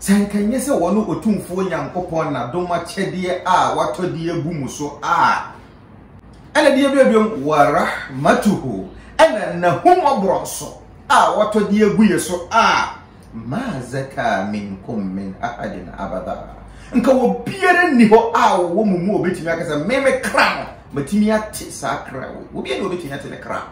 Sɛ anka ɛnyɛ sɛ wɔne Otumfoɔ Nyankopɔn n'adom akyɛdeɛ a watɔ de abu mo so a, ɛna deɛ bi abiom wa rahmatuhu ɛna n'ahummɔborɔ nso a watɔ de agu yɛ so a ma zaka minkum min ahadin abada nka obiara nni hɔ a wɔwɔ mu mu obetumi akasa meme kra no matumi ate saa kra wei obiara na obetumi ate ne kra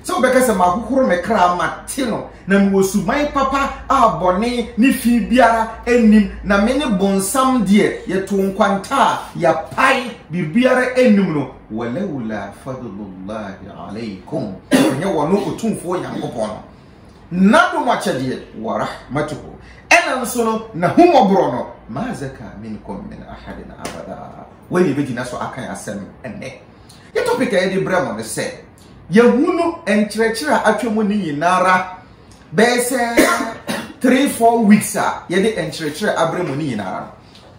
Sɛ wobɛka sɛ mahohoro me kra mate no na mewɔ suban papa a bɔne ne fi biara nnim na me ne bonsam deɛ yɛto nkwanta a yɛapae biribiara nnim no walaula fadlullahi alaikum ɛnyɛ wɔno ɔtumfoɔ nyankopɔn no nadom akyɛdeɛ warahmatuhu ɛna nso no nahumɔborɔ no mazaka minkum min ahadin abada wei ne bɛgyina so akan asɛm ɛnɛ Ne topic a yɛde brɛ mo no sɛ yɛhunu nkyerɛkyerɛ a atwa mu ne nyinara bɛyɛ sɛ three four weeks a yɛde nkyerɛkyerɛ abrɛ mu ne nyinara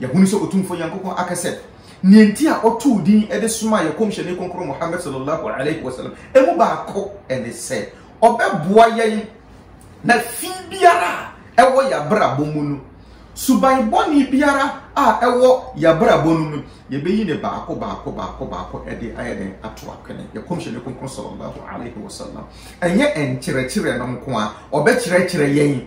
no yɛhunu sɛ otumfo nyankopɔn aka sɛ nea nti a ɔtoo din de soma yɛ kɔmhyɛne kronkron muhammad sallallahu alaihi wasallam ɛmu baako ɛne sɛ ɔbɛboa yɛn na fi biara a ɛwɔ yɛabrabɔ mu no Suban bɔne biara a ɛwɔ yɛn abrabɔ no mu, yɛbɛyi no baako baako baako baako de ayɛ dɛn ato apene. Yɛn Kɔmhyɛni Kronkron Sallallahu Alaihi Wasallam, ɛnyɛ nkyerɛkyerɛ no nko a, ɔbɛkyerɛkyerɛ yɛn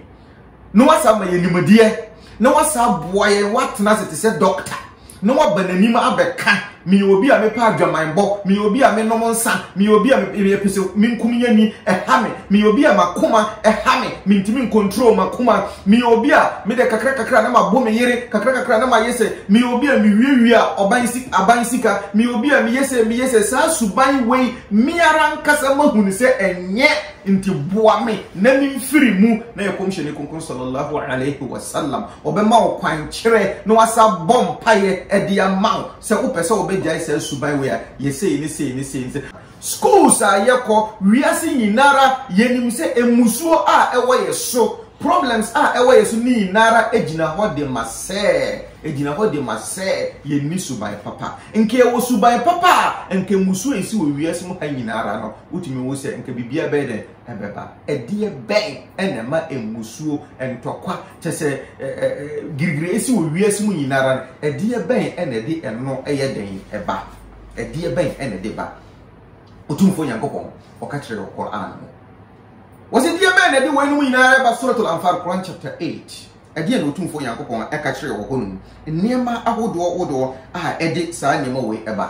na wasa ama yɛn nimdeɛ na wasa aboa yɛn, watena ase te sɛ dɔkta na waba n'anim abɛka, Meyɛ obi a mepɛ adwamanbɔ, meyɛ obi a menom nsa, meyɛ obi a mepɛ sɛ menkum yɛni, ɛha me, meyɛ obi a m'akoma ɛha me, mentumi nkontrol m'akoma, meyɛ obi a medɛ kakra kakra na mabo me yere, kakra kakra na mayɛ sɛ, meyɛ obi a mewiawia ɔban si aban sika, meyɛ obi a meyɛ sɛ meyɛ sɛ, saa suban wei me ara ankasa mahu no sɛ ɛnyɛ. Nti boa me na memfiri mu na yɛ Kɔmhyɛni Kronkron Sallallahu Alaihi Wasallam ɔbɛma wo kwan kyerɛ na wasan abɔ mpaeɛ de ama wo sɛ wopɛ sɛ wobɛgyae saa suban wei a, yɛ sei ne sei ne sei ne sei. Schools a yɛkɔ, wiase nyina ara yɛnim sɛ mmusuo a ɛwɔ yɛ so, problems a ɛwɔ yɛ so ne nyina ara gyina hɔ de ma sɛ, ɛgyina hɔ de ma sɛ yɛnni suban papa. Nka yɛwɔ suban papa a, nka mmusuo a ɛsi wɔ wiase mu ha nyina ara no, Wotumi wo sɛ nka biribiara bɛyɛ dɛ ɛbɛba. Ɛdeɛ bɛn ɛna ɛma mmusuo, ntɔkwa, kyɛ sɛ girigiri esi wɔ wiase mu nyinara no, ɛdeɛ bɛn ɛna ɛde ɛno ɛyɛ dɛn ɛba? Ɛdeɛ bɛn ɛna ɛde ba? Otumfoɔ Nyankopɔn ɔka kyerɛ wɔ Quran mu. Wɔsi deɛ bɛn na ɛde wɔn anum nyinara ɛba Suratul Anfal Quran chapter 8. Ɛdeɛ na Otumfoɔ Nyankopɔn ɛka kyerɛ wɔ hɔ nom. Nneɛma ahodoɔ wodoɔ a ɛde saa nneɛma wei ɛba.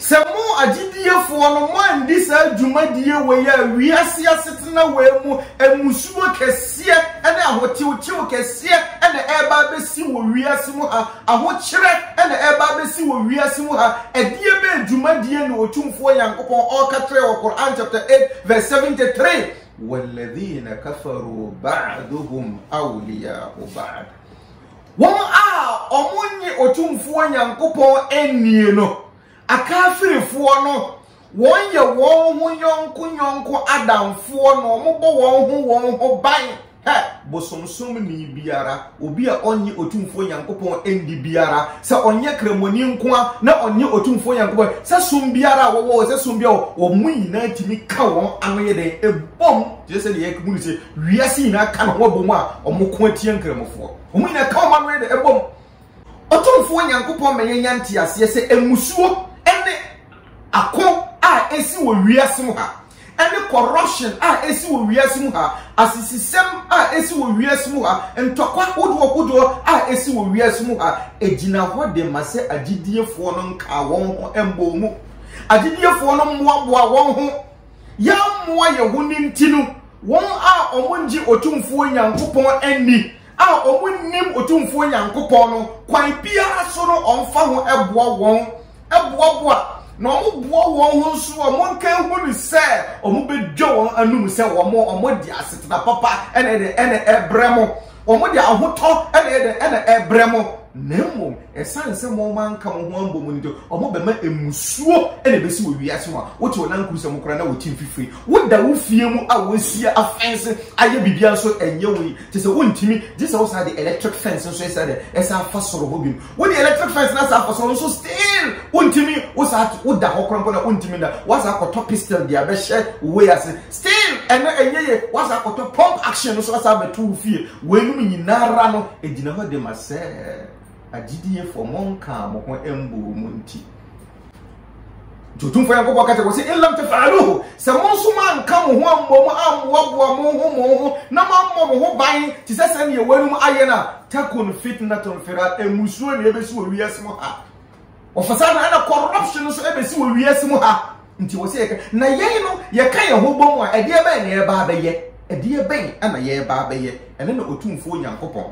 Sɛ mo, agyidiefoɔ no, moanndi saa dwumadie wei a wiase asetena wei mu mmusuo kɛseɛ ne ahotewtew kɛseɛ na ɛreba abɛsi wɔ wiase mu ha, ahokyerɛ na ɛreba abɛsi wɔ wiase mu ha, ɛdeɛbɛn dwumadie na Otumfoɔ Nyankopɔn ɔɔka kyerɛ wɔ Qur'aan chapter 8 verse 73? Walladhina kafaruu ba'duhum awliyaa'u ba'd. Wɔn a wɔnnye Otumfoɔ Nyankopɔn nnie no, Akaafirifoɔ no, wɔyɛ wɔn ho yɔnko yɔnko adamfoɔ na wɔbɔ wɔn ho wɔn ho ban. Hɛ! Bosomsomni biara, obi a ɔnnye Otumfoɔ Nyankopɔn nni biara, sɛ ɔnyɛ Kramoni nko ara na ɔnnye Otumfoɔ Nyankopɔn, sɛ som biara a wɔwɔ o, sɛ som biara a wɔwɔ o, wɔn nyinaa tumi ka wɔn ano yɛ dɛn? Bom, te sɛ sɛdeɛ yɛahu no sɛ Wiase nyinaa ka ne ho abom a wɔko atia Nkramofoɔ. Wɔn nyinaa ka wɔn ano yɛ dɛ bom. Otumfoɔ Nyankopɔn ma yɛnya nteaseɛ sɛ mmusuo ne ako a ɛsi wɔ wiase mu ha, ɛne corruption a ɛsi wɔ wiase mu ha, asisisɛm a ɛsi wɔ wiase mu ha, ntɔkwa hodoɔ hodoɔ a ɛsi wɔ wiase mu ha, ɛgyina hɔ de ma sɛ agyidiefoɔ no nkaa wɔn ho mmɔɔ mu. Agyidiefoɔ no mmoaboa wɔn ho yɛammoa yɛn ho no nti no, wɔn a wɔngye Otumfoɔ Nyankopɔn anni, a wɔnnim Otumfoɔ Nyankopɔn no, kwan biara so no wɔmfa ho boa wɔn, boaboa, na wɔboa wɔn ho nso a wɔnka hu no sɛ wɔbɛdwa wɔn anom sɛ wɔn wɔde asetena papa ɛna ɛna ɛbrɛ mo. Wɔde ahotɔ na ɛyɛ dɛ ɛna ɛbrɛ mo, na mmom ɛsan sɛ mo ma nka mo ho ambɔ mu nti, wɔn bɛma emusuo na ebesi wɔ wiase mu a wote wɔn ankuru sɛ mo koraa na wɔte mfifiri. Woda wo fie mu a wɔasua afɛnse ayɛ biribiara nso ɛnyɛ wo yi, te sɛ wontumi, gye sɛ wosan de electric fence nso ɛsɛ dɛ ɛsan fa soro hɔ bio. Wode electric fence na saa akɔsɔn nso still wontumi wo saa woda hɔ korampo na wontumi na wasa akɔtɔ pistol de abɛhyɛ wei ase still ɛno ɛnyɛ yɛ wasa akɔtɔ pump action no so asa abɛto wo fie wɔnum nyinaa ra no egyina hɔ de ma sɛ agyidiefoɔ mo nkaa mo ho mbɔ mu nti nti otumfoɔ nyankopɔn ka kyɛ wɔ sɛ ilam tafaaluhu sɛ mo nso moanka mo ho ammɔ mu ammoaboa mo ho mo ho na moammɔ mo ho ban te sɛ sɛ neɛ wɔanom ayɛ no a takun fitnatun fira mmusuo ne ɛbɛsi wɔ wiase mu ha ɔfasa no ɛna corruption nso ɛbɛsi wɔ wiase mu ha nti wɔ sɛ yɛka na yɛn no yɛka yɛn ho bɔ mu a ɛdeɛ bɛn na yɛba abɛyɛ ɛdeɛ bɛn ɛna yɛba abɛyɛ ɛne na otumfoɔ nyankopɔn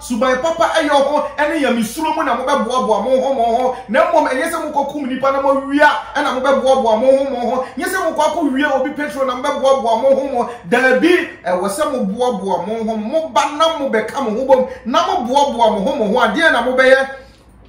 Suban papa yɔ ho ne nyamesuro mu na mobɛboaboa mo ho mo ho, na mmom ɛnyɛ sɛ mokɔkum nnipa na moawia na mobɛboaboa mo ho mo ho, nyɛ sɛ mokɔ akɔwie obi petro na mobɛboaboa mo ho mo. Daabi, ɛwɔ sɛ moboaboa mo ho mo ba na mobɛka mo ho bom na moboaboa mo ho mo ho a, deɛn na mobɛyɛ?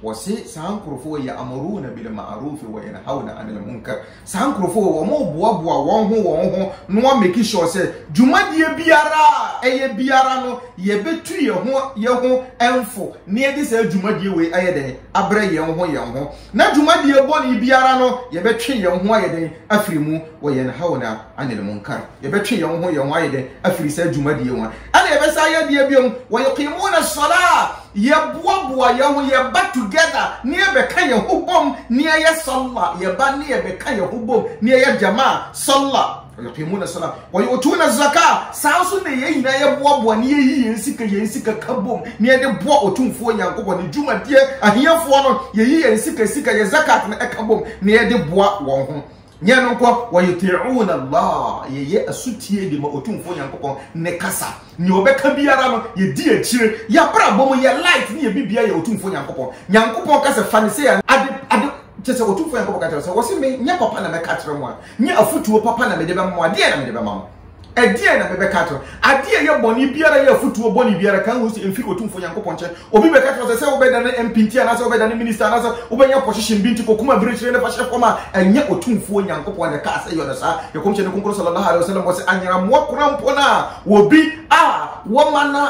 Wɔse saa nkorofo wei yɛ amoruna bil maarofi wɔ yɛn haw na anil munkar. Saa nkorofo wei wɔn boa boa wɔn ho wɔn ho na wɔn meki sure sɛ dwumadie biara a ɛyɛ biara no yɛ bɛ tu yɛ ho yɛ ho nfo na yɛ de saa dwumadie wei ayɛ dɛn abrɛ yɛn ho yɛn ho na dwumadie bɔne biara no yɛ bɛ twe yɛn ho ayɛ dɛn afiri mu wɔ yɛn haw na anil munkar yɛ bɛ twe yɛn ho yɛn ho ayɛ dɛn afiri saa dwumadie ho ɛna yɛ bɛ saa yɛ deɛ biom wɔ yɛ kii mu na sɔlaa Yɛboaboa yɛn ho, yɛba together na yɛbɛka yɛn ho bom na yɛyɛ Salah, yɛba na yɛbɛka yɛn ho bom na yɛyɛ Jamaa, Salah, Wayuqimuna Salah, Wayu'tuna Zakah, saa nso na yɛn nyinaa yɛboaboa na yɛyi yɛn sika, yɛn sika ka bom na yɛde boa Otumfoɔ Nyankopɔn ne dwumadie, ahiafoɔ no, yɛyi yɛn sika, sika, yɛn Zakat no ka bom na yɛde boa wɔn ho. Nyɛ ɛno nko, wɔyuti'uuna Allah, yɛyɛ asutie de ma Otumfoɔ Nyankopɔn ne kasa. Nea ɔbɛka biara no, yɛdi akyire. Y'abrabɔ mu, yɛ life ne yɛ biribiara yɛ Otumfoɔ Nyankopɔn. Nyankopɔn ka sɛ, fa no sei a, ade, ade, kyerɛ sɛ Otumfoɔ Nyankopɔn ka kyerɛ wo sɛ, wɔse me, nyɛ papa na mɛka akyerɛ mo a, nyɛ afotuo papa na mede bɛma mo a, deɛn na mede bɛma mo? Ɛdeɛn na mebɛka akyerɛ wo? Adeɛ ɛyɛ bɔne biara yɛ afotuo bɔne biara kan wɔ sɛ ɛmfiri Otumfoɔ Nyankopɔn nkyɛn. Obi bɛka kyerɛ wo sɛ sɛ wobɛdane MP nti anaasɛ wobɛdane minister anaasɛ wobɛnya position bi nti kɔkum abirekyire ne fa hyɛ fam a, ɛnyɛ Otumfoɔ Nyankopɔn na ɛkaa sɛ yɔ no saa. Ne Nkɔmhyɛni Kronkron Sallallahu Alaihi Wasallam bɔ sɛ anyeramoa korampɔn a obi a wɔma no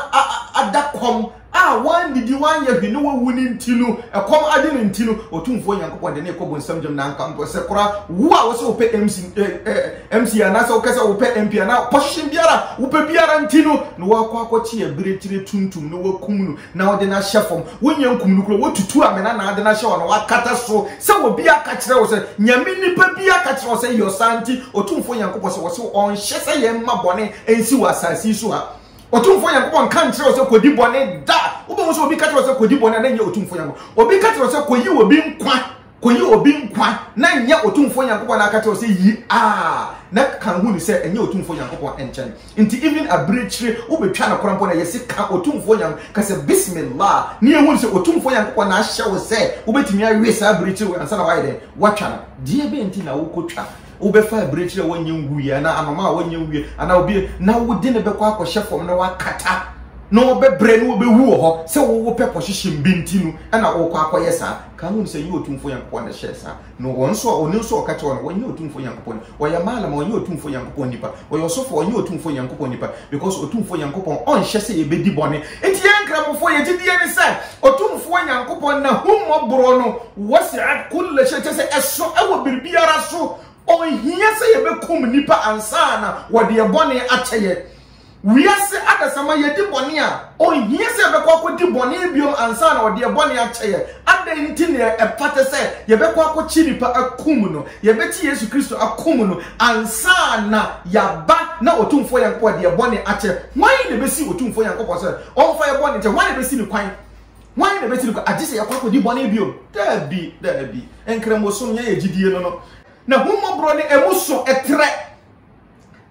ada kɔm a wannidi, wanyɛ hwee na wawu no nti no, ɛkɔm ade no nti no, Otumfoɔ Nyankopɔn de no rekɔ bonsam gyam na anka mpo sɛ koraa wo a wosɛ wopɛ MC, eh, eh, MC anaasɛ wokɛ sɛ wopɛ MP anaa position biara wopɛ biara nti no na wakɔ akɔkye abirekyire tuntum na wakum no na ɔde no ahyɛ fam. Wonyɛ nkum no kora, watutu amena na ade no ahyɛ hɔ na wakata so sɛ obi aka kyerɛ wo sɛ Nyame nipa bi aka kyerɛ wo sɛ yɛ ɔsaa nti Otumfoɔ Nyankopɔn sɛ wɔse ɔnhyɛ sɛ yɛmma bɔne nsi wɔ asase yi so ha. Otumfoɔ Nyankopɔn nka nkyerɛ wo sɛ kɔdi bɔne da. Wobɛhu sɛ obi ka kyerɛ wo sɛ kɔdi bɔne a na nyɛ Otumfoɔ Nyankopɔn. Obi ka kyerɛ wo sɛ kɔyi obi nkwa, kɔyi obi nkwa na nyɛ Otumfoɔ Nyankopɔn na aka kyerɛ wo sɛ yi a, na kan hu ne sɛ ɛnyɛ Otumfoɔ Nyankopɔn nkyɛn. Nti even abirekyire wobɛtwa no kora mpo na yɛse ka Otumfoɔ Nyankopɔn, ka sɛ Bismillah na yɛhu sɛ Otumfoɔ Nyankopɔn na ahyɛ wo sɛ wobɛtumi awe saa abirekyire wei ansa na woayɛ dɛn? Woatwa no. Deɛ bɛn nti na wokɔtwa? wobɛfa abirekyiri a wɔnyɛ nwuiɛ anaa anoma a wɔnyɛ nwuiɛ anaa obi na wode no bɛkɔ akɔhyɛ fam na wakata na wɔbɛbrɛ na wɔbɛwu wɔ hɔ sɛ wowo pɛ pɔhyehyem bi nti no ɛna wokɔ akɔyɛ saa ka ho sɛ yɛ otumfo nyankopɔn na hyɛɛ saa na wɔn nso a ɔne nso ɔka kyerɛ no wɔnyɛ otumfo nyankopɔn ɔyɛ maalama ɔnyɛ otumfo nyankopɔn nipa ɔyɛ ɔsofo ɔnyɛ otumfo nyankopɔn nipa because otumfo nyankopɔn ɔnhyɛ sɛ yɛbɛdi bɔne nti yɛn nkramofo yɛgye die ne sɛ otumfo nyankopɔn na hummɔborɔ no Wasi'at kulla shay, kyerɛ sɛ ɛso wɔ biribiara so. Ɔnhia sɛ yɛbɛkum nnipa ansa na wɔde ɛbɔne akyɛ yɛn. Wiase adasamma, yɛdi bɔne a, ɔnhia sɛ yɛbɛkɔ akɔdi bɔne bio ansa na wɔde ɛbɔne akyɛ yɛn. Adɛn nti na ɛfata sɛ yɛbɛkɔ akɔkye nipa akum no? Yɛbɛkye Yesu Kristo akum no ansa na yɛaba na Otumfoɔ Nyankopɔn de ɛbɔne akyɛ. Hwan na ɛbɛsi Otumfoɔ Nyankopɔn sɛ ɔmfa yɛn bɔne nkyɛ? Hwan na ɛbɛsi no kwan? Hwan na ɛbɛtiri kwa? Agye sɛ yɛkɔ akɔdi bɔne bio? Daabi, daabi. Nkramosom, yɛn yɛ gyidie no no. N'ahummɔborɔ ne ɛmu so ɛtrɛ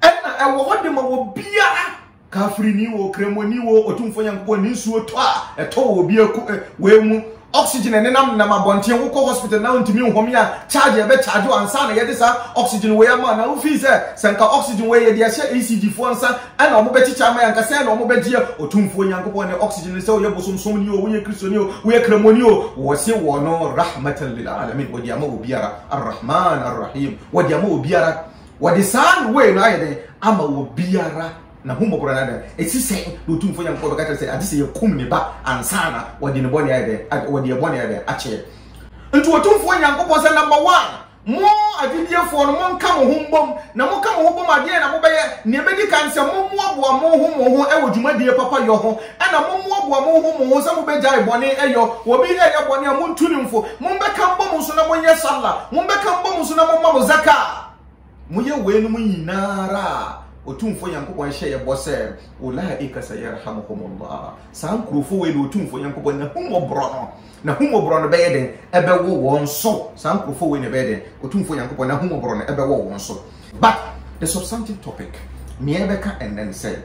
ɛna ɛwɔ hɔ de ma wɔ biara. Kafirini wo, kramoni wo, ɔtumfoɔ Nyankopɔn ne nsuo tɔ a ɛtɔ wɔ obi aku eh, wei mu. Oxygen ɛnenam nenam abɔnten wokɔ hospital na ntumi nhome a charge ɛbɛ charge ansa na yɛde saa oxygen wei ama na wofii sɛ sɛ nka oxygen wei yɛde ahyɛ ECG foɔ nsa Ɛna wɔbɛkyekyɛ ama yɛn ankasa, ɛna wɔbɛgye Otumfoɔ Nyankopɔn ne oxygen no sɛ woyɛ bosomsomni o, woyɛ Kristoni o, woyɛ Kramoni o, wɔse wɔno Rahmatan lil Alamin, wɔde ama obiara, Ar-Rahman Ar-Rahim, wɔde ama obiara, wɔde saa no wei no ayɛ dɛn ama obiara n'ahummɔborɔ no adan. Ɛsi sɛn na Otumfoɔ Nyankopɔn bɛka kyerɛ sɛ agye sɛ yɛkum ne ba ansa na wɔde ne bɔne ayɛ dɛn, wɔde yɛn bɔne ayɛ dɛn akyɛ yɛn. Nti Otumfoɔ Nyankopɔn sɛ number one, Mo agyidiefoɔ no, monka mo ho mbom, na moka mo ho bom a, deɛn na mobɛyɛ? Nea ɛbɛdi kan, sɛ mommoaboa mo ho mo ho wɔ dwumadie papa yɔ ho, ɛna mommoaboa mo ho mo ho sɛ mobɛgyae bɔne yɔ, wɔ bi reyɛ bɔne a, montu no mfo, mombɛka mbom nso na monyɛ Sallah, mombɛka mbom nso na momma mo Zakah. Moyɛ weinom nyina ara a, Otumfoɔ Nyankopɔn hyɛɛ bɔ sɛ, Ulaika sayarhamuhumullah, saa nkurofo wei na Otumfoɔ Nyankopɔn N'ahummɔborɔ no N'ahummɔborɔ no bɛyɛ dɛn bɛwɔ wɔn so? Saa nkurɔfoɔ wei na ɛbɛyɛ dɛn? Otumfoɔ Nyankopɔn n'ahummɔborɔ no bɛwɔ wɔn so. But the substantive topic, nea yɛbɛka ɛnnɛ ne sɛ,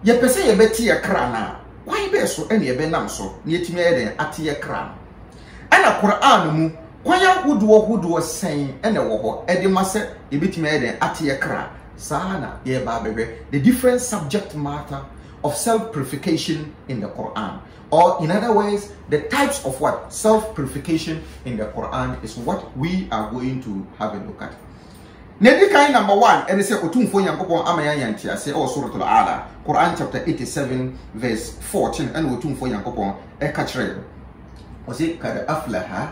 yɛpɛ sɛ yɛbɛte yɛn kra no a, kwan bɛn so na yɛbɛnam so na yɛatumi ayɛ dɛn ate yɛn kra no? Ɛna Qur'aan no mu, kwan ahodoɔ hodoɔ sɛn na ɛwɔ hɔ de ma sɛ yɛbɛtumi ayɛ dɛn ate yɛn kra? Saa ara na yɛreba abɛhwɛ the different subject matter of self-purification in the Qur'aan. Or in other words, the types of what? Self-purification in the Quran is what we are going to have a look at. Na di kan number one, ɛne sɛ Otumfoɔ Nyankopɔn ama yɛn nteaseɛ ɛwɔ Suratul A'la, Quran chapter 87 verse 14 ɛna Otumfoɔ Nyankopɔn ɛka kyerɛ yɛn. Ɔse, Kad aflaha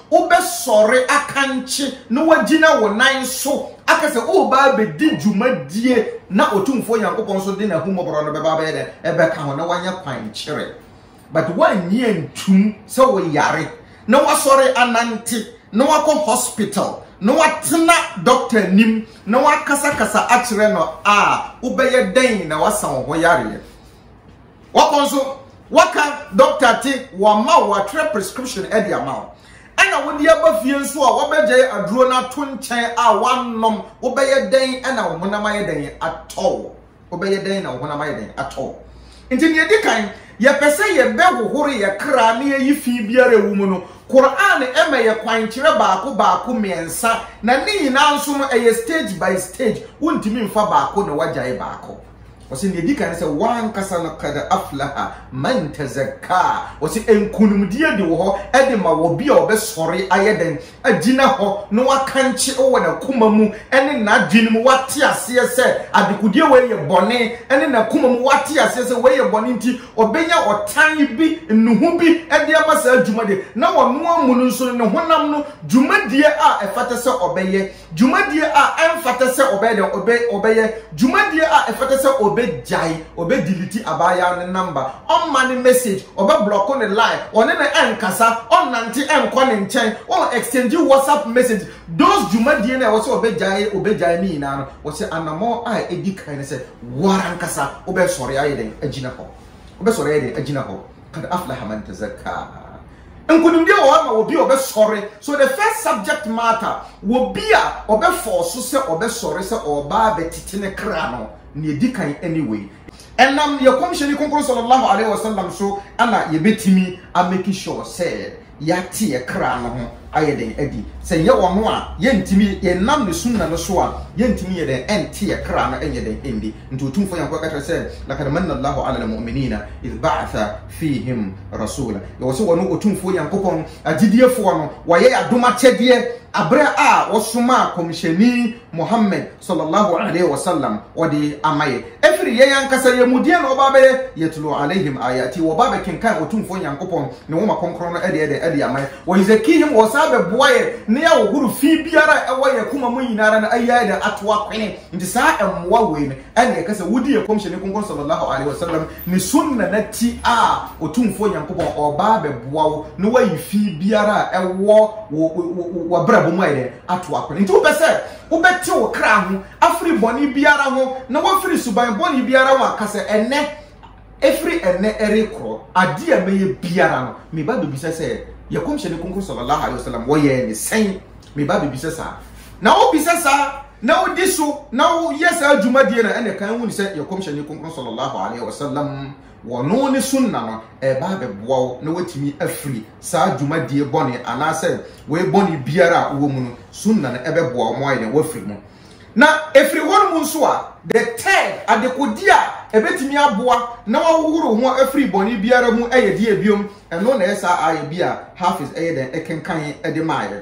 Wobɛsɔre akankye na woagyina wo nan so aka sɛ woreba abɛdi dwumadie na Otumfoɔ Nyankopɔn nso de n'ahummɔborɔ no bɛba abɛyɛ dɛn? Ɛbɛka ho na woanya kwan kyerɛ. But woannye antum sɛ woyare na woasɔre anante na woakɔ hospital na woatena doctor anim na woakasakasa akyerɛ no a, wobɛyɛ dɛn na woasa wo ho yareɛ? Wɔkɔ nso, wɔka dɔkta te, wɔama wo, wɔatwerɛ prescription de ama wo, ɛna wode aba fie nso a, wɔbɛgyae aduro no ato nkyɛn a woannom, wobɛyɛ dɛn na wo honam ayɛ dɛn atɔ wo? Wobɛyɛ dɛn na wo honam ayɛ dɛn atɔ wo? Nti deɛ ɛdi kan, yɛpɛ sɛ yɛbɛhohoro yɛ kra na yɛyi fi biara ɛwɔ mu no, Qur'aan ma yɛ kwan kyerɛ baako baako, mmiɛnsa, na ne nyinaa nso no ɛyɛ stage by stage, wontumi mfa baako na woagyae baako. Ɔse nea edi kan ne sɛ w'ankasa no qad aflaha man tazakka. Ɔse nkunimdie de wɔ hɔ de ma obi a ɔbɛsɔre ayɛ dɛn? Agyina hɔ na wakankye wɔ n'akoma mu ne n'adwene mu, wate aseɛ sɛ adekodeɛ wei yɛ bɔne, ne n'akoma mu wate aseɛ sɛ wei yɛ bɔne nti ɔbɛnya ɔtan bi, nnuho bi de ama saa dwuma de, na ɔno amu no nso no ne honam no dwumadie a ɛfata sɛ ɔbɛyɛ. Dwumadie a ɛmfata sɛ ɔbɛyɛ dɛn? Ɔbɛ ɔbɛyɛ. Dwumadie a ɛfata sɛ ɔbɛgyae, ɔbɛdelete abaayaa no namba, ɔmma no message, ɔbɛblɔko no line, ɔne no ɛnkasa, ɔnnante ɛnkɔ ne nkyɛn, ɔn exchange WhatsApp message, those dwumadie no a ɛwɔ sɛ ɔbɛgyae ɔbɛgyae ne nyinaa no, wɔsɛ anamɔn a ɛdi kan no sɛ wo ara ankasa wobɛsɔre ayɛ dɛn? Agyina hɔ. Wobɛsɔre ayɛ dɛn? Agyina hɔ. Qad aflaha man tazakkaa. Nkonimdie wɔ hɔ ama obi a ɔbɛsɔre. So the first subject matter wɔ bi a ɔbɛfɔɔ so sɛ ɔbɛsɔre sɛ ɔɔba abɛtete ne kra no, nea ɛdi kan ɛne wei. Ɛnam yɛ Kɔmhyɛni Kronkron Sallallahu Alaihi Wasallam so na yɛbɛtumi a make sure sɛ yɛate yɛ kra no ho ayɛ dɛn adi. Sɛ nyɛ ɔno a, yɛntumi, yɛnnam ne Sunnah no so a, yɛntumi nyɛ dɛn ɛnte yɛ kra no ɛnyɛ dɛn ɛndi. Nti Otumfoɔ Nyankopɔn ka kyerɛ sɛ, Laqad Manna Allahu Alal Mu'miniina idh Ba'atha fihim rasula. Yɛwɔ sɛ wɔne Otumfoɔ Nyankopɔn agyidiefoɔ no wɔyɛ adom akyɛdeɛ aberɛ a wɔsomaa Kɔmhyɛni Muhammad sallallahu alaihi wasallam wɔde ama yɛ ɛfiri yɛn ankasa yɛn mu deɛ na wɔba abɛyɛ yatlu alaihim ayati wɔba abɛkenkan Otumfoɔ Nyankopɔn ne nwoma kronkron no ɛde ɛdɛn ɛde ama yɛ wɔ yuzakihim wɔsan abɛboa yɛ ne ahohoro fi biara ɛwɔ yɛ koma mu nyinara no ayɛ ɛdɛn ato akwene nti saa mmoa wei no ɛne ɛka sɛ wodi yɛ kɔmhyɛni konkɔn sallallahu alaihi wasallam ne sunna na ti a ɔtumfoɔ nyankopɔn ɔbaa bɛboa wo na wayi fi biara a ɛwɔ wabrabɔ mu ayɛ ato akɔne nti wopɛ sɛ wobɛte wo kra ho afiri bɔne biara ho na wafiri suban bɔne biara ho aka sɛ ɛnɛ ɛfiri ɛnɛ ɛrekorɔ adeɛ a mɛyɛ biara no meba bɛbisa sɛ yɛ kɔmhyɛni konkɔn sallallahu alaihi wasallam wɔyɛɛ ne sɛn meba bɛbisa saa na wobisa saa Na wodi so na woyɛ saa dwumadie no ɛna ɛkan wuni sɛ yɛ Kɔmhyɛni Kronkron Sɔlɔ Laahu Alaihi Wasalam wɔno ne Sunna no ɛreba abɛboa wo na woatumi afiri saa dwumadie bɔne anaasɛ wei bɔne biara a wowɔ mu no Sunna no ɛbɛboa wo ma woayɛ dɛn woafiri mu. Na ɛfiri hɔ nom nso a the third adekodeɛ a ɛbɛtumi aboa na woahohoro wo ho afiri bɔne biara mu ɛyɛ deɛ biom ɛno na ɛyɛ saa aayɛ bi a Hafiz ɛyɛ dɛn ɛkenkan de maaeɛ.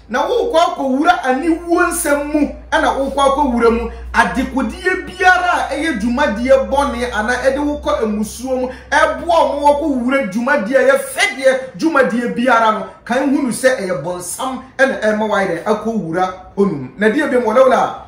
na worekɔ akɔwura aniwuo nsɛm mu na worekɔ akɔwura mu, adekodeɛ biara a ɛyɛ dwumadie bɔne anaa ɛde wo kɔ mmusuo mu, ɛboa wɔn ma wɔkɔwura dwumadie a ɛyɛ fɛdeɛ dwumadie biara no, kan hunu sɛ ɛyɛ bonsam na ɛrema woayɛ dɛn akɔwura hɔnom. Na deɛ biom wɔlawla.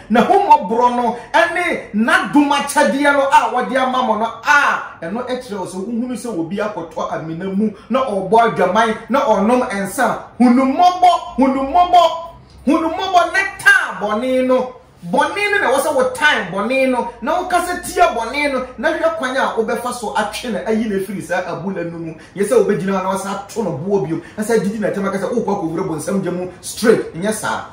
N'ahummɔborɔ no ne N'adom akyɛdeɛ no a Ɔde ama mo no a, ɛno kyerɛ wo sɛ wohunu sɛ obi akɔtɔ amena mu na ɔrebɔ adwaman na ɔrenom nsa a, hunu mmɔbɔ, hunu mmɔbɔ, hunu mmɔbɔ na taa bɔne no. Bɔne no na ɛwɔ sɛ wotan bɔne no na wokasa tia bɔne no na hwɛ kwan a wobɛfa so atwe no ayi no afiri saa abura no mu. Nyɛ sɛ wobɛgyina hɔ na woasan ato no boɔ bio, asan adidi n'atɛm aka sɛ worekɔ akɔwura bonsam gya mu straight. Nyɛ saa.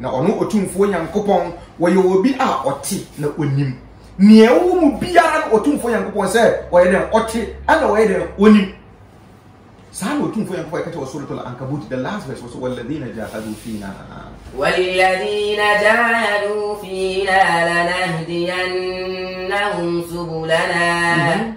Na ɔno Otumfoɔ Nyankopɔn, wɔyɛ obi a ɔte na onim. Nea ɛwɔ mu biara no Otumfoɔ Nyankopɔn sɛ ɔyɛ dɛn ɔte ɛna ɔyɛ dɛn onim. Saa na Otumfoɔ Nyankopɔn ɛka kyerɛ wɔ Suratul Ankabut, the last verse wɔ so, Walladhina jahadu fina. Walladhina jahadu fina lanahdiyannahum subulana. Mhm.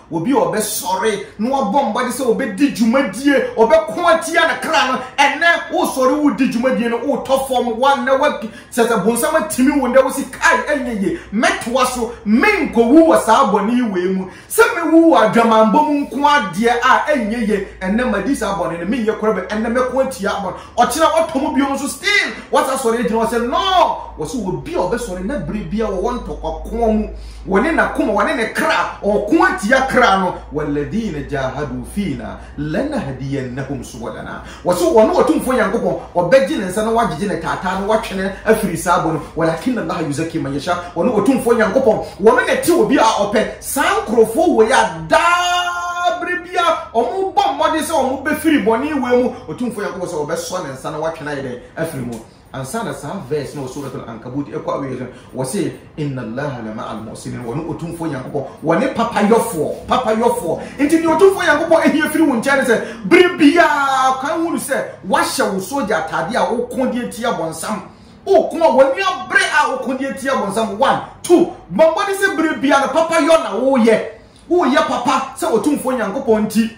Obi a ɔbɛsɔre na wabɔ mmɔden sɛ ɔbɛdi dwumadie, ɔbɛko atia ne kra no, ɛnɛ wosɔre wodi dwumadie no, wotɔ fam, wannɛ wadi, sɛ sɛ bonsam atimi wo ndɛ, wosi kae ɛnyɛ yie, mɛtoa so, menkɔwu wɔ saa bɔne yi wei mu, sɛ mɛwu wɔ adwamammɔ mu nko ara deɛ a ɛnyɛ yie, ɛnɛ madi saa bɔne no, menyɛ koraa bio, ɛnɛ mɛko atia bɔne. ɔkyena wɔtɔ mu bio nso still wɔsa sɔre agyina hɔ sɛ no wɔsɛ obi a ɔbɛsɔre na bere bia wɔwɔ ntɔkwakoa mu wɔne n'akoma wɔne ne kra ɔko atia kra no waladina jahadu fina lanahdiyannahum subulana wɔsɛ wɔne ɔtumfoɔ nyankopɔn ɔbɛgye ne nsa na wagyegye ne taataa no watwene afiri saa bɔ no walakinna allaha yuzaki man yasha wɔne ɔtumfoɔ nyankopɔn wɔne ne te obi a ɔpɛ Saa nkorɔfoɔ wei a daa berɛ biara wɔbɔ mmɔden sɛ wɔbɛfiri bɔne wei mu, Otumfoɔ Nyankopɔn sɛ ɔbɛsɔ ne nsa na watwe no ayɛ dɛn? Afiri mu. Ansa na saa verse no wɔ Suratul Ankabut ɛkɔ awieɛ no, wɔse, Inna Allaha la ma'al muhsinin, wɔne Otumfoɔ Nyankopɔn, wɔne papayɔfoɔ, papayɔfoɔ. Nti deɛ Otumfoɔ Nyankopɔn hia firi wo nkyɛn ne sɛ, berɛ biara kan hunu sɛ woahyɛ wo sogya ataadeɛ a woko de atia bɔnsam, O kuma w'aniwa bere a wokɔ de atia bonsam one two bɔ mmɔden sɛ bere bia no papa yɔ na woyɛ woyɛ papa sɛ otumfoɔ nyankopɔn nti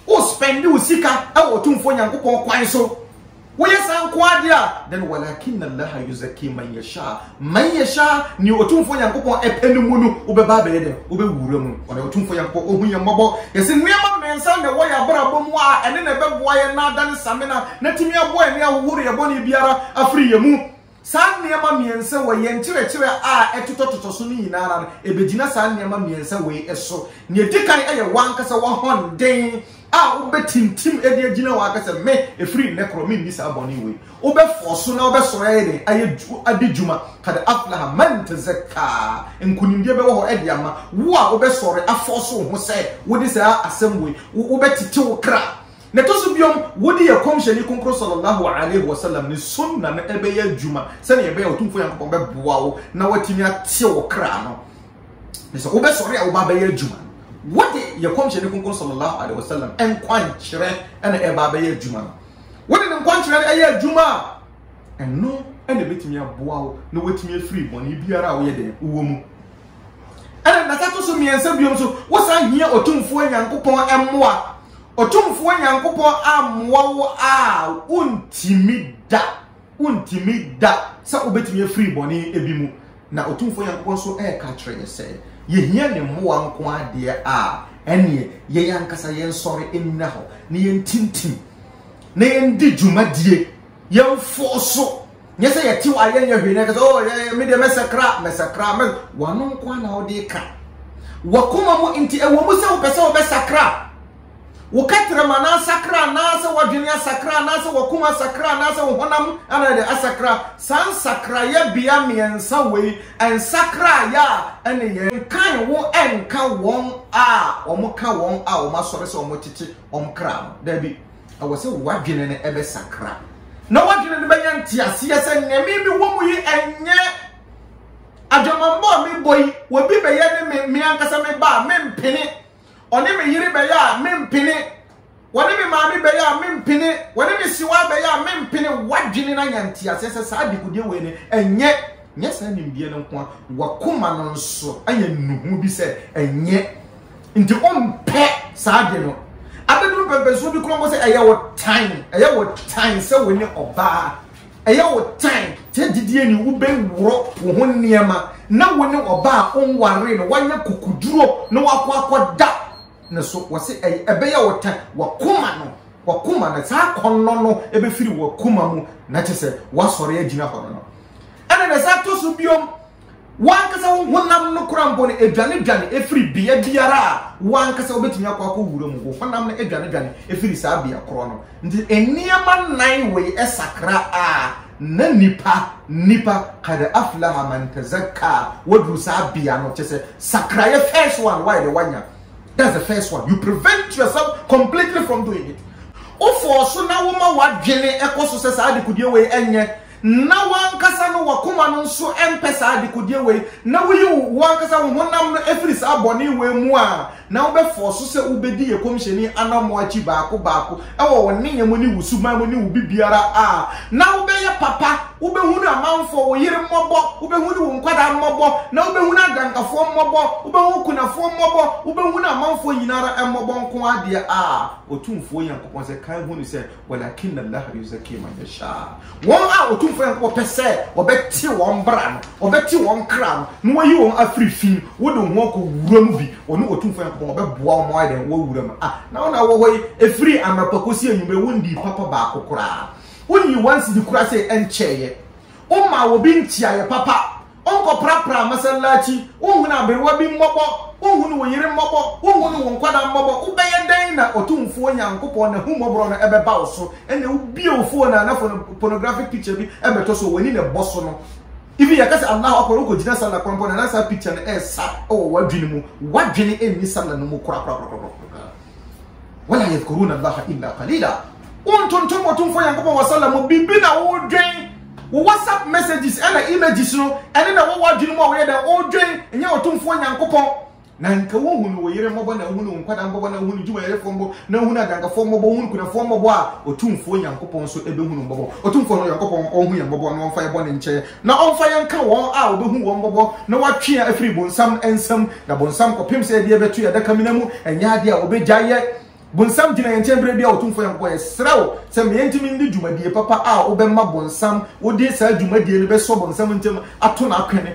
wo spɛnde wo sika wɔ otumfoɔ nyankopɔn kwan so woyɛ saa nko adeɛ a then walakin allaha yuzaki man yasha man yasha ne otumfoɔ nyankopɔn ɛpɛ no mu no wobɛba abɛyɛ dɛ wobɛwura mu Wɔde Otumfoɔ Nyankopɔn ohu yɛn mmɔbɔ. Yɛse nneɛma mmiɛnsa na ɛwɔ yɛn abrabɔ mu a ɛne na ɛbɛboa yɛn na adane samina na atumi aboa yɛn ahohoro yɛn bɔne biara afiri yɛn mu. Saa nneɛma mmiɛnsa wɔ yɛn nkyerɛkyerɛ a ɛtotɔtotɔ so no nyinaa ara no, ɛbɛgyina saa nneɛma mmiɛnsa wei so. Nea ɛdi kan yɛ w'ankasa w'ahoɔden a wobɛtintim de agyina hɔ aka sɛ, Me, ɛfiri nnɛ korɔ, menni saa bɔne wei. Wobɛ fɔɔso na wobɛ sɔre ayɛ dɛn ayɛ adi dwuma kad aflaha man tazakkaa nkunimdie bɛwɔ hɔ ɛde ama wo a wobɛ sɔre afɔɔso wo ho sɛ wode saa asɛm wei wobɛ tete wo kra na ɛtɔ so biom wode yɛ kɔmhyɛni konkro sɔlɔlɔho alaihi wasalam ne sunna no ɛbɛyɛ adwuma sɛnea ɛbɛyɛ ɔtumfoɔ nyankopɔn bɛboa wo na watumi ateɛ wo kra no ne sɛ wobɛ sɔre a wobɛ abɛyɛ adwuma no wode yɛ kɔmhyɛni konkro sɔlɔlɔho alaihi wasalam ɛnkwankyerɛ ɛna ɛba abɛyɛ adwuma no Wode ne nkɔnkyerɛ no yɛ adwuma a, ɛno na ɛbɛtumi aboa wo na woatumi afiri bɔne biara a woyɛ dɛn wowɔ mu. Ɛna na ɛto so mmiɛnsa biom so, wosan hia Otumfoɔ Nyankopɔn mmoa. Otumfoɔ Nyankopɔn ammoa wo a, wontumi da, wontumi da sɛ wobɛtumi afiri bɔne bi mu. Na Otumfoɔ Nyankopɔn nso reka kyerɛ yɛn sɛ, yɛhia Ne mmoa nko ara deɛ a, ɛnneɛ yɛn ankasa yɛnsɔre nnyina hɔ na yɛntintim, na yɛndi dwumadie, yɛnfɔɔso, nyɛ sɛ yɛte hɔ a yɛnyɛ hwee na yɛka sɛ, oh, yɛ, me deɛ mɛsakra, mɛsakra, mɛ... W'ano nko ara na wode ka. W'akoma mu nti, ɛwɔ mu sɛ wopɛ sɛ wobɛsakra. Wo kɛtrɛm ana asakra anaasɛ w'adwene asakra anaasɛ w'akoma asakra anaasɛ wo honam ana de asakra? Saa nsakraeɛ bea mmiɛnsa wei, nsakraeɛ a ɛne yɛn. Nkan wo nka wɔn a wɔka wɔn a wɔasɔre sɛ wɔkyekye wɔn kra no. Dabi, ɛwɔ sɛ w'adwene no bɛsakra. Na w'adwene no bɛnya nteaseɛ sɛ nea merebɛwɔ mu yi ɛnyɛ adwamammɔ a mebɔ yi, obi bɛyɛ ne me, me ankasa meba a mempene. Ɔne me yere bɛyɛ a mempene. Wɔne me maame bɛyɛ a mempene. Wɔne me siwa bɛyɛ a mempene. Wadwene na nya nteaseɛ sɛ saa degudeɛ wei no ɛnyɛ nyɛ saa nimdeɛ no nko a wakoma no nso ayɛ nnuhu bi sɛ ɛnyɛ nti ɔmpɛ saa de no abɛduru pɛmpɛnsuo bi kɔn bɔ sɛ ɛyɛ wɔ tan ɛyɛ wɔ tan sɛ wo ne ɔbaa Ɛyɛ wo tan sɛ gyidie ni wobɛworɔ wo ho nneɛma na wo ne ɔbaa a wonwaree no woanyɛ kukuduro na woakɔ akɔda ne so. Wɔse ɛbɛyɛ wo tan, w'akoma no, w'akoma no, saa akɔnnɔ no bɛfiri w'akoma mu na kyerɛ sɛ woasɔre agyina hɔ no no. Ɛna na ɛsan tɔ so biom. Wo ankasa wo honam no koraa mpo no dwanedwane firi bea biara a wo ankasa wobɛtumi akɔ akɔwura mu. Wo honam no dwanedwane firi saa bea korɔ no. Nti nneɛma nnan wei sakra a, na nipa, nipa, kad aflaha man tazakka, waduru saa bea no, kyɛ sɛ sakraeɛ first one wayɛ dɛ wanya. That's the first one. You prevent yourself completely from doing it. Wofɔɔ so na woma w'adwene kɔ so sɛ saa dekodie wei nyɛ na wo ankasa no w'akoma no nso mpɛ saa dekodeɛ wei, na woyi wo ankasa wo honam no firi saa bɔne wei mu a, na wobɛ fɔɔso sɛ wobɛdi yɛ kɔmhyɛni anamɔ akyi baako baako wɔ wo nneyɛ mu ne wo suban mu ne wo bibiara a, na wobɛyɛ papa, wobɛhunu amanfoɔ, wo yere mmɔbɔ, wobɛhunu wo nkwadaa mmɔbɔ, na wobɛhunu adankafoɔ mmɔbɔ, wobɛhunu akunafoɔ mmɔbɔ, wobɛhunu amanfoɔ nyina ara mmɔbɔ nko ara deɛ a, Otumfoɔ Nyankopɔn sɛ, kan hunu sɛ, Walakin Allah yuzaki man yasha. Wɔn a Otumfoɔ Nyankopɔn pɛ sɛ ɔbɛte wɔn bra no, ɔbɛte wɔn kra no, na wayi wɔn afiri fi mu. Wode wo ho akɔ wura mu bi, ɔne Otumfoɔ Nyankopɔn ɔbɛboa wo ma woayɛ dɛn? Woawu wura mu. Ah, na wo na wowɔ hɔ yi, ɛfiri anɔpa kɔsi anwummere, wonnii papa baako koraa. Wonyii w'ansisi koraa sɛ ɛnkyɛeɛ. Wommaa obi nkyeaeɛ papa. Wonkɔprapra masallaci, wonhunu aberewa bi mmɔbɔ, wonhunu wo yere mmɔbɔ, wonhunu wo nkwadaa mmɔbɔ, wobɛyɛ dɛn na Otumfoɔ Nyankopɔn n'ahummɔborɔ no bɛba wo so? Ɛnna wobue wo phone a na phone pornographic picture bi bɛtɔ so a w'ani na ɛbɔ so no. Even yɛka sɛ Allahu Akbar, wokɔgyina sallah kwan mpo na na saa picture no resa wɔ w'adwene mu. W'adwene nni sallah no mu korakorakorakorakoraa. Wala yadhkuruna Allaha illa qalila. Wontontom Otumfoɔ Nyankopɔn wɔ Salah mu, biribi na wodwen, wo WhatsApp messages ɛna images no, ɛne na ɛwɔ w'adwene mu a woyɛ dɛn wodwen, ɛnyɛ Otumfoɔ Nyankopɔn. Na nka wohunu wo yere mmɔbɔ, na wohunu wo nkwadaa mmɔbɔ, na wohunu dwumayɛfoɔ mmɔbɔ, na wohunu adwankafoɔ mmɔbɔ, wohunu kunafoɔ mmɔbɔ a, Otumfoɔ Nyankopɔn nso ɛbɛhunu mmɔbɔ. Otumfoɔ no Nyankopɔn ɔnhu yɛn mmɔbɔ na ɔmfa yɛn bɔne nkyɛ yɛn, na ɔmfa yɛn nka wɔn a wɔbɛhu wɔn mmɔbɔ na wɔatwe yɛn afiri bonsam nsam, Na bonsam kɔpem sɛ yɛde yɛbɛto yɛn adakamena mu, ɛnyɛ adeɛ a ɔbɛgyae yɛ. Bonsam gyina yɛn nkyɛn berɛ biara, Otumfoɔ Nyankopɔn, yɛsrɛ wo sɛ ma yɛntumi ndi dwumadie papa a wobɛma bonsam wode saa dwumadie no bɛsɔ bonsam ntam ato no akwene,